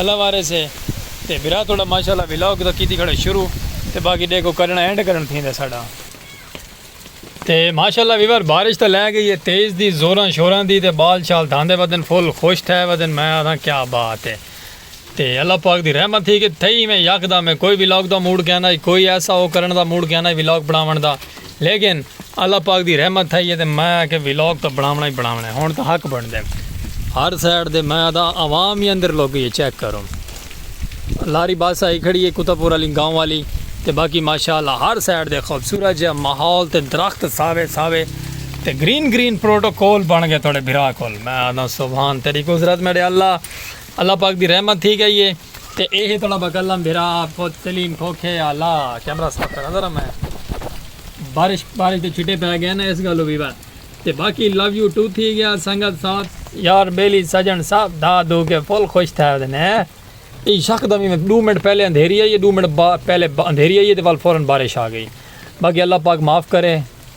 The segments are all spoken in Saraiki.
اللہ وارث ہے تے بھرا تہاڈا ماشاءاللہ ولاگ تاں کیتی کھڑے شروع تے باقی ڈیکھو کرنا اینڈ کرن تھیندا ساڈا تے ماشاءاللہ ویور بارش تاں لے گئی ہے تیز دی زوراں شوراں دی تے بال شال دھاندے ودن فل خوش تھے ودن میں آکھاں کیا بات ہے تے اللہ پاک دی رحمت تھی کہ تھئی ایویں یکدم ہے کوئی ولاگ دا موڈ کیندا کوئی ایسا او کرن دا موڈ کیندا ولاگ بناون دا۔ لیکن اللہ پاک دی رحمت تھائی ہے تے میں آکھیا ولاگ تاں بناونا ہی بناونا ہے ہن تاں حق بنڑدے ہر سائیڈ دے میں آدا عوام ہی اندر لوگ گئی ہے چیک کرو لاری بس آئی کھڑی ہے کتا پور علی گاؤں والی تے باقی ماشاءاللہ ہر سائیڈ دے خوبصورت جا ماحول تے درخت ساوے ساوے تے گرین گرین پروٹوکول بن گئے تھوڑے بھرا کول میں آدا سبحان تیری قدرت میرے اللہ اللہ پاک دی رحمت تھی گئی ہے تے اے ہے تڑا بکلم بھرا آپ کو تلیم کھوکھے آلا کیمرہ صاف کرا ذرا میں بارش بارش تے چھٹے پہ گئے نا اس گلو بھی بات تے باقی لو یو ٹو تھی گیا سنگت ساتھ یار بیلی سجن صاحب دا دو کے فل خوش تھا ہے دینے ای شک دا میں دو منٹ پہلے اندھیری آئی ہے دو منٹ پہلے اندھیری آئی ہے تے وال فوراں بارش آ گئی باقی اللہ پاک معاف کرے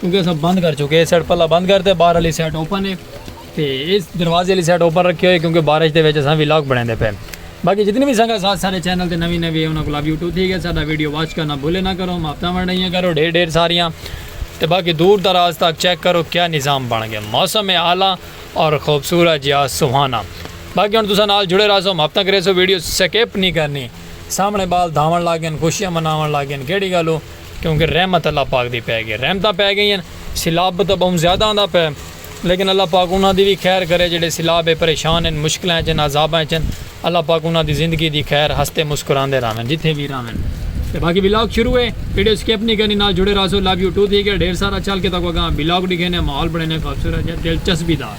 کیونکہ اساں بند کر چکے اے سائیڈ پلا بند کرتے باہر علی سائیڈ اوپن ہے تے اس دروازے علی سائیڈ اوپن رکھے ہوئے کیونکہ بارش دے وچ اساں وی لاک بنیندے پے باقی جتنی وی سنگا ساتھ سارے چینل تے نوی نوی ہے انہاں کول ابھی اٹھو تھی گئے ساڈا ویڈیو واچ کرنا بھولے نہ کرو ماپتاں ونڈائیاں کرو ڈھیر ڈھیر ساریاں تے باقی دور دراز تک چیک کرو کیا نظام بن گئے موسم ہے اعلی اور خوبصورت جیا سہانا باقی ہن تساں نال جڑے رہسو ماپتاں کریسو ویڈیو سکپ نہیں کرنی سامنے بال دھاون لگ گئے خوشیاں مناون لگ گئے کیڑی گالو کیونکہ رحمت اللہ پاک دی پے گئے رحمتاں پے گئین سیلاب تاں بہوں زیادہ آندا پے لیکن اللہ پاک انہاں دی وی خیر کرے جیڑھے سیلاب اچ پریشان ہن مشکلاں اچ ہن عذاباں اچ ہن اللہ پاک انہاں دی زندگی دی خیر ہستے مسکراندے راہون جتھے وی راہون تے باقی ولاگ شروع ہے ویڈیو سکپ نی کرنی نال جڑے راہسو لو یو ٹو تھیک ہے ڈھیر سارا چل کے تہاکوں اگاں ولاگ ڈکھینے ماحول بنڑینے خوبصورت جیہا دلچسبی دار۔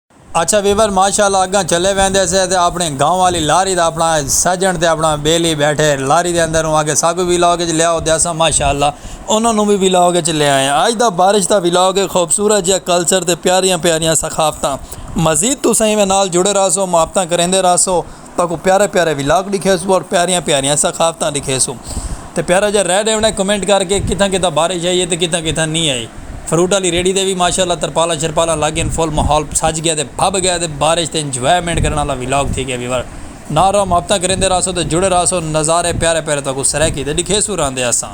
اچھا ویور ماشاء اللہ اگاں چلے ویندے سے تے اپنڑی گاؤں والی لاری دا اپنڑا سجنڑ تے اپنڑا بیلی بیٹھے لاری دے اندر اوں آکھے ساکوں وی ولاگ اچ لیاؤ تے اساں ماشاء اللہ انہاں نوں وی ولاگ اچ لے آئے آں اج دا بارش دا ولاگ اے خوبصورت جیہا کلچر تے پیاریاں پیاریاں ثقافتاں مزید تساں ایویں نال جڑے راہسو محبتاں کریندے راہسو۔ تہاکوں پیارے پیارے ولاگ ڈکھیسوں اور پیاریاں پیاریاں ثقافتاں ڈکھیسوں تے پیارا جا رہ ڈیونا ہے کمنٹ کر کے کتھاں کتھاں بارش آئی ہے تے کتھاں کتھاں نی آئی فروٹ آلی ریڑھی تے وی ماشاءاللہ ترپالاں شرپالاں لگ گئین فل ماحول سج گیا تے بھب گیا تے بارش تے انجوائمنٹ کرن آلا ولاگ تھی گیا ویور نال رہو محبتاں کریندے رہسو تے جڑے رہسو نظارے پیارے پیارے تہاکوں سرائیکی تے ڈکھیسوں رہندے اساں۔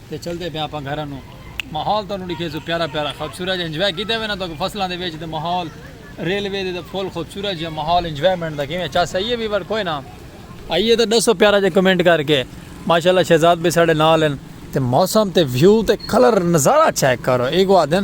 تے چلدے پئے آپاں گھراں نوں ماحول تانوں ڈکھے سو پیارا پیارا خوبصورت جا انجوائے کیتے وینا تو فصلاں دے وچ تے ماحول ریلوے دے تے فل خوبصورت جا ماحول انجوائمنٹ دا کیویں چس آئیے ویور کوئی نہ آئیے تے ڈسو پیارا جا کمنٹ کر کے ماشاءاللہ شہزاد بھائی ساڈے نال ہن تے موسم تے ویو تے کلر نظارہ چیک کرو ایگو آدن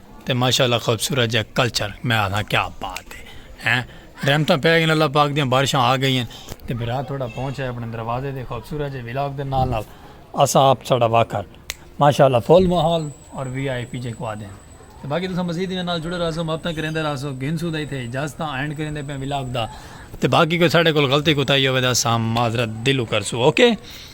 تے ماشاء اللہ خوبصورت جا کلچر میں آدھا کیا بات ہے ہیں رحمتاں پہ گئیں اللہ پاک دیاں بارشاں آ گئیں تے بھرا تھوڑا پہنچ ہے اپنے دروازے دے خوبصورت جے ولاگ دے نال نال اسا آپ ساڑا واکر ماشاء اللہ فول ماحول اور وی آئی پی جے کو آدھے ہیں باقی تساں مزید انہاں نال جڑے رہا سو مابتاں کریندے رہا سو گھن سو دائی تھے اجازتاں اینڈ کریندے پہ ولاگ دا تے باقی کوئی ساڑے کول غلطی کوتائی ہوئے دا سام معذرت دلو کر سو اوکے okay.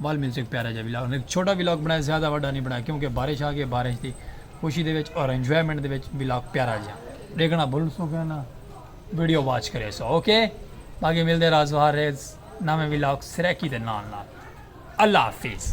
ول ملتے ایک پیارا جا ولاگ ایک چھوٹا ولاگ بنایا زیادہ وڈا نہیں بنایا کیونکہ بارش آ گئی بارش دی خوشی دے وچ اور انجوائمنٹ دے وچ ولاگ پیارا جا دیکھنا بھول سو گیا نا ویڈیو واچ کرے سو اوکے باقی ملتے راز وہاں ریز نامے ولاگ سریکی دے نال نال اللہ حافظ